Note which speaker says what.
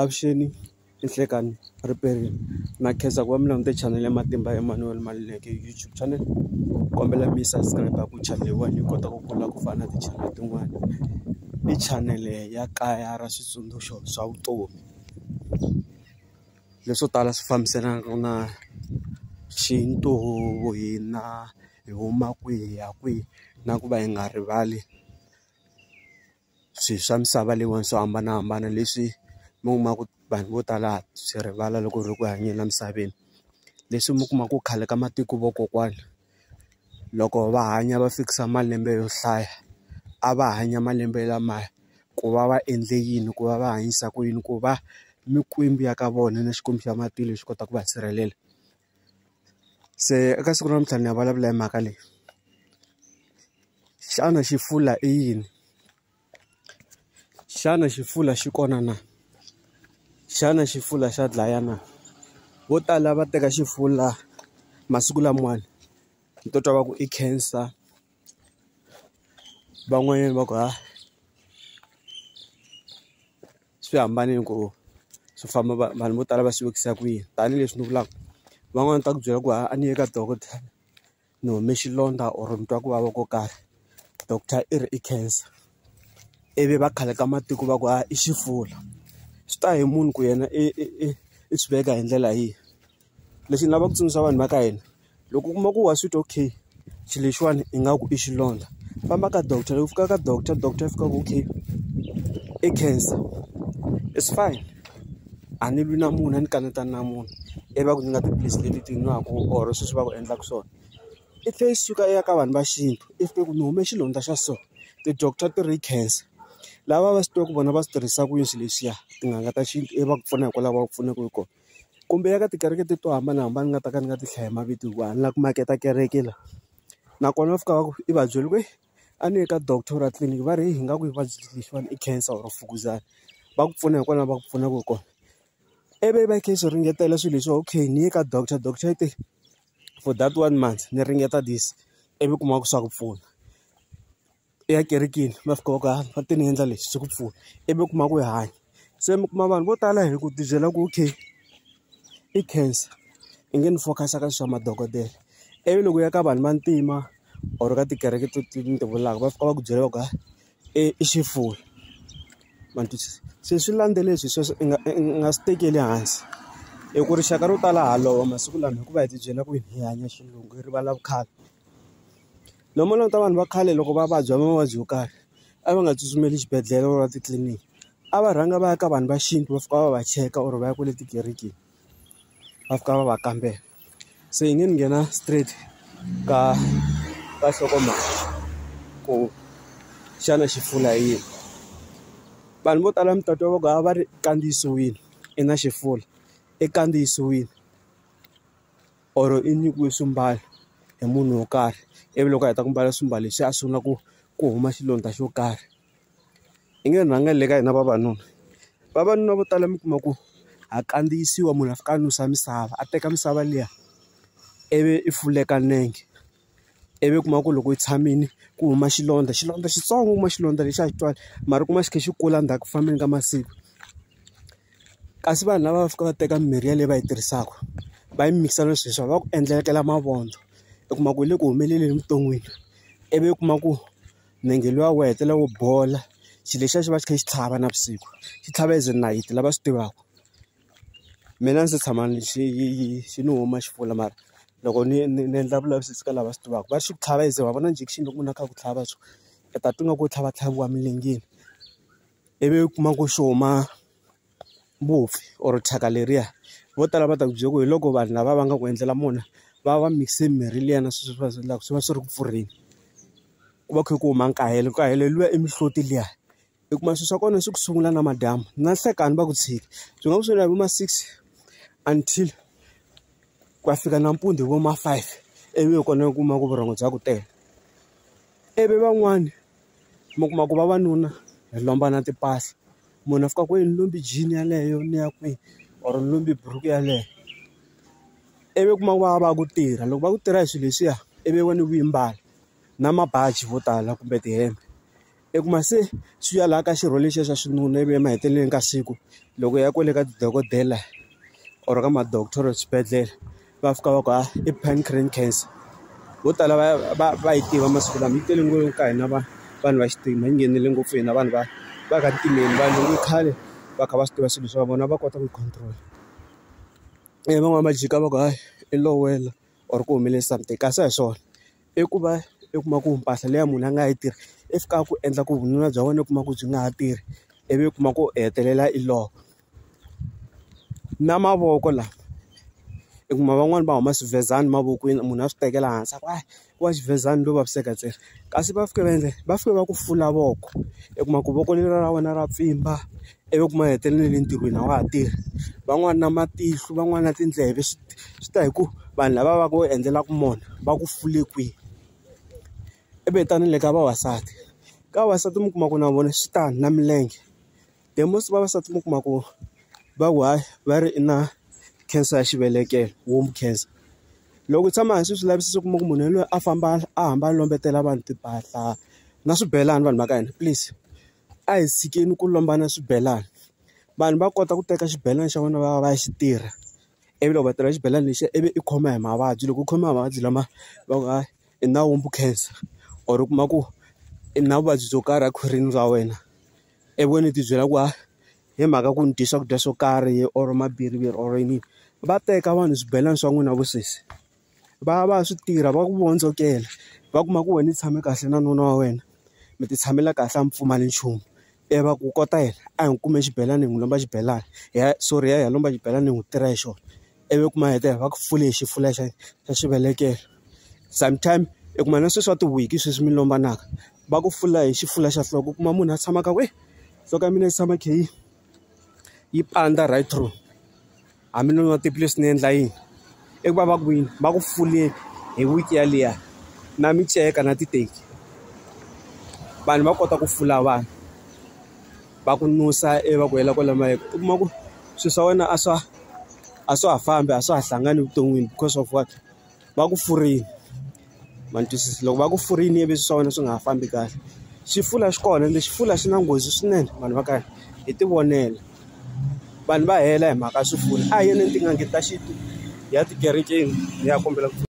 Speaker 1: Avuxeni ninhlekani ripedi na khensa ku va mi langute chanele ya matimba ya Emmanuel Maluleke YouTube channel kombela mi yi subscribe ku chanele yin'wana yi kota ku kula ku fana na ti-channel tin'wana i channel ya kaya ra switsundzuxo swa vutomi leswo tala swi fambiselanaka na xintu hina hi huma kwihi hi ya kwihi na ku va hi nga rivali. swilo swa misava leyiwani swo hambanahambana leswi mi kuma ku vanhu vo tala ha swi rivala loko hi ri ku hanyeni emisaveni. Leswi mi kuma ku khale ka matiko vakokwana, loko va hanya va fikisa malembe yo hlaya, a va hanya malembe lamaya ku va va endle yini, ku va va hanyisa ku yini, ku va mikwembu ya ka vona na Xikwembu xa matilo xi kota ku va sirhelela. Se eka siku ra namuntlha ni ya vulavula hi mhaka leyi. Xana xi hlula i yini? Xana xi hlula xi kona na? Xana xi hlula xa dlaya na? Vo tala va teka xi hlula masiku lamawani, ni to twa va ku i cancer. van'wanyana va ku ha swi hambane ku swi famba vanhu vo tala va swi vekisa kwihi tanihileswi ni vulaka van'wani ta ku byela ku ha a ni ye ka dokodela ni hume xilondza or ni twa ku vava ko karhi doctor i ri i cancer ivi va khale ka matiko va ku ha i xifula swi ta hi munhu ku yena i i i swi veka hi ndlela yihi. Lexi ni lavaka ku tsundzuxa vanhu va ka hina loko u kuma ku wa sweet okay xilo lexiwani ingaku i xilondza famba ka doctor loko u fika ka doctor doctor a fika a ku okay i cancer it's fine a ni lwi na munhu a ni kanetana na munhu ivi va ku nyika tiphilisi leti ti nwaka or sweswi va ku endlaka swona i tlhe i suka i ya ka vanhu va xintu i fika i ku ni hume xilondza xa so ti doctor ti ri i cancer lava va swi tiva ku vona va swi tirhisa ku yini swilo leswiya tin'anga ta xintu ivi va ku pfuna hikwalaho va ku pfunaka hi kona. kumbe ya ka tikereke to hambanahambana ni nga ta ka ni nga ti hlayi mavito hikuva a ni lava ku maketa kereke la nakona va fika va ku i va byela ku ri a ni ye ka doctor ra tliliniki va ri hi nga ku i vuvabyi lexiwani i cancer or mfukuzana va ku pfuna hi kona va ku pfunaka hi kona ivi va kha yi swi ringetela swilo leswi va okay ni ye ka doctor doctor i te for that one month ni ringeta this ivi u kuma ku swa ku pfuna. ya ekerekeni va fika va ku hayi va te ni endla lexi swi ku pfuna ivi u kuma ku i hanya se mi kuma vanhu vo tala hi ku tibyela ku okay i cancer i nge ni focus-a ka swa madokodela ivi loko u ya ka vanhu vantima or ka tikereke to ti ni ti vulaka va fika va ku byela va ku hayi i i xifuwo ma ni twisisa se swi landzelele swilo sweswo i nga i nga swi tekeli hansi hi ku rixaka ro tala ha lova masiku lama hikuva hi tibyela ku hi hanya xilungu hi rivala vukhale. No mo languta vanhu va khale loko va vabya mavabyi yo karhi a va nga tsutsumeli xibedhlele or titliliniki a va rhanga va ya ka vanhu va xintu va fika va va cheka or va ya kwale tikerekeni va fika va va kambela se yi nge ni nghena straight ka ka nhlokomhaka ku xana xi pfuna hi yini vanhu vo tala mi ta twa va ku a va ri kandziyisiwile i na xifula i kandziyisiwile. or i nyikiwe swimbalo hi munhu wo karhi ivi loko a heta ku mbala swimbalo leswi a sungula ku ku huma xilondza xo karhi i nge rhangela le ka hina vavanuna vavanuna vo tala mi kuma ku ha kandziyisiwa munhu a fika a nusa misava a teka misava liya ivi i fuleka nenge. ivi u kuma ku loko u tshamile ku huma xilondza xilondza xitsongo u kuma xilondza lexi a xi twali mara u kuma xi kha xi kula ndzhaku ku fambeni ka masiku kasi vanhu lava va fika va teka mimirhi yaleyo va yi tirhisaka va yi mikisa na swilo leswi va ku endlekela mavondzo u kuma ku yi le ku humeleleni evuton'wini ivi u kuma ku nenge luya wu hetelela wu bola xilo lexiya xi va xi kha xi tlhava navusiku xi tlhava as nayiti lava swi tivaka. Mina a ndzi se tshama ni xi xi ni huma xi pfula mara loko ni ni ni endla vulavisisi ka lava swi tivaka va xi tlhava as wa vona injection loko munhu a kha ku tlhava so u ta twa ingaku u tlhava tlhaviwa emilengeni ivi u kuma ku xi huma mbofu or thyaka leriya vo tala va ta ku byela ku hi loko vanhu lava va nga ku endlela mona va va mikise mimirhi liya na sweswi va swi endlaka swi va swi ri ku pfurheni ku va ku kha ku huma nkahelo nkahelo luya i mihloti liya. hi kuma swilo swa kona swi ku sungula na madyambu na nhlekani va ku tshika swi nga ku sungula hi vo ma six until ku ya fika nampundzu hi vo ma five ivi hi kona u kuma ku vurhongo bya ku tele ivi van'wani mi kuma ku vavanuna hi lomba na timpahla munhu a fika ku yi ni lombi jean yeleyo ni ya kwihi or ni lombi buruku yeleyo ivi u kuma ku va va ku tirha loko va ku tirha hi swilo leswiya ivi wena u yi mbala na mabaji vo tala kumbe tihembe. I kuma se swi ya laha ka xirho lexiya xa xinuna ivi emahetelelweni ka siku loko ya kwale ka dokodela or ka ma-doctor swibedhlele va fika va ku ha i pancreatic cancer vo tala va va va yi tiva masiku lama yi tele ngopfu ka hina vanhu vanhu va xintima yi nghenile ngopfu hina vanhu va va ka ntimeni vanhu va khale va kha va swi tiva swilo swa vona va kota ku yi control van'wani va jika va ku hayi i low wela or ku humelele something kasi a hi swona. I ku va i kuma ku mpahla leyi munhu a nga yi tirha yi fika ku endla ku vununa bya wena u kuma ku byi nga ha tirhi ivi u kuma ku u hetelela i lova na mavoko lawa i kuma van'wani va huma swivezani mavokweni munhu a swi tekela hansi a ku a ku va xivezani ro vaviseka ntsena kasi va fika va endla yini va fika va ku fula voko i kuma ku voko leriya ra wena ra pfimba. ivi u kuma a hetelele le ntirhweni a wa ha tirhi van'wani na matihlo van'wani na tindleve swi swi ta hi ku vanhu lava va va ka va endlelaka mona va ku fule kwihi i ve tani ni le ka vavasati ka vavasati mi kuma ku na vona swi tani na milenge the most vavasati mi kuma ku va ku hayi va ri i na cancer ya xivelekelo womb cancer loko hi tshama hansi hi swi lavisisa u kuma ku munhu yaloye a famba a hamba a lombetela vanhu timpahla na swibelani vanhu va ka hina please. a hi tshikeni ku lombana swibelani vanhu va kota ku teka xibelani xa vona va ya va ya xi tirha ivi loko va tirha xibelani lexiya ivi i khoma hi mavabyi loko u khoma hi mavabyi lama va ku hayi i na wombo cancer or u kuma ku i na vuvabyi byo karhi a khwirini ra wena i vona i tibyela ku a hi mhaka ku ni dye swakudya swo karhi or mabiriviri or yini va teka vanhu swibelani swa n'wina va sesi. Va ya va ya swi tirha va ku vondzokela, va kuma ku wena u tshame kahle na nuna wa wena, mi ti tshamela kahle a mi pfumali nchumu. Ivi va ku kota yena, a hi n'wi kumbe xibelani hi n'wi lomba xibelani hi ya sorry hi ya hi ya lomba xibelani hi n'wi tirha hi xona. Ivi u kuma a hetelela va ku fule hi xifuwo xa xa xivelekelo. Sometime u kuma na sweswi swa ti-wig-i sweswi mi lombanaka, va ku fula hi xifuwo xa nhloko u kuma munhu a tshama a karhi ku heyi, nhloko ya mina yi tshama yi kha yi yi pandza right through. a mi nonoha tiphilisi ni endla yini i ku va va ku yini va ku fuleni hi week yaliya na miceka na titeki vanhu va kota ku fula vanhu va ku nusa ivi va ku hela kwale mayeke u kuma ku swilo swa wena a swa a swa ha fambi a swa ha hlangani evuton'wini because of what. va ku furini ma ni twisisa loko va ku furini ivi swa wena swi nga ha fambi kahle xifula xi kona ende xifula xi na nghozi swinene vanhu va kahle hi ti vonela vanhu va hela hi mhaka ya swifula a hi yeni etin'angeni ta xintu hi ya tikerekeni hi ya kombela ku pfuna.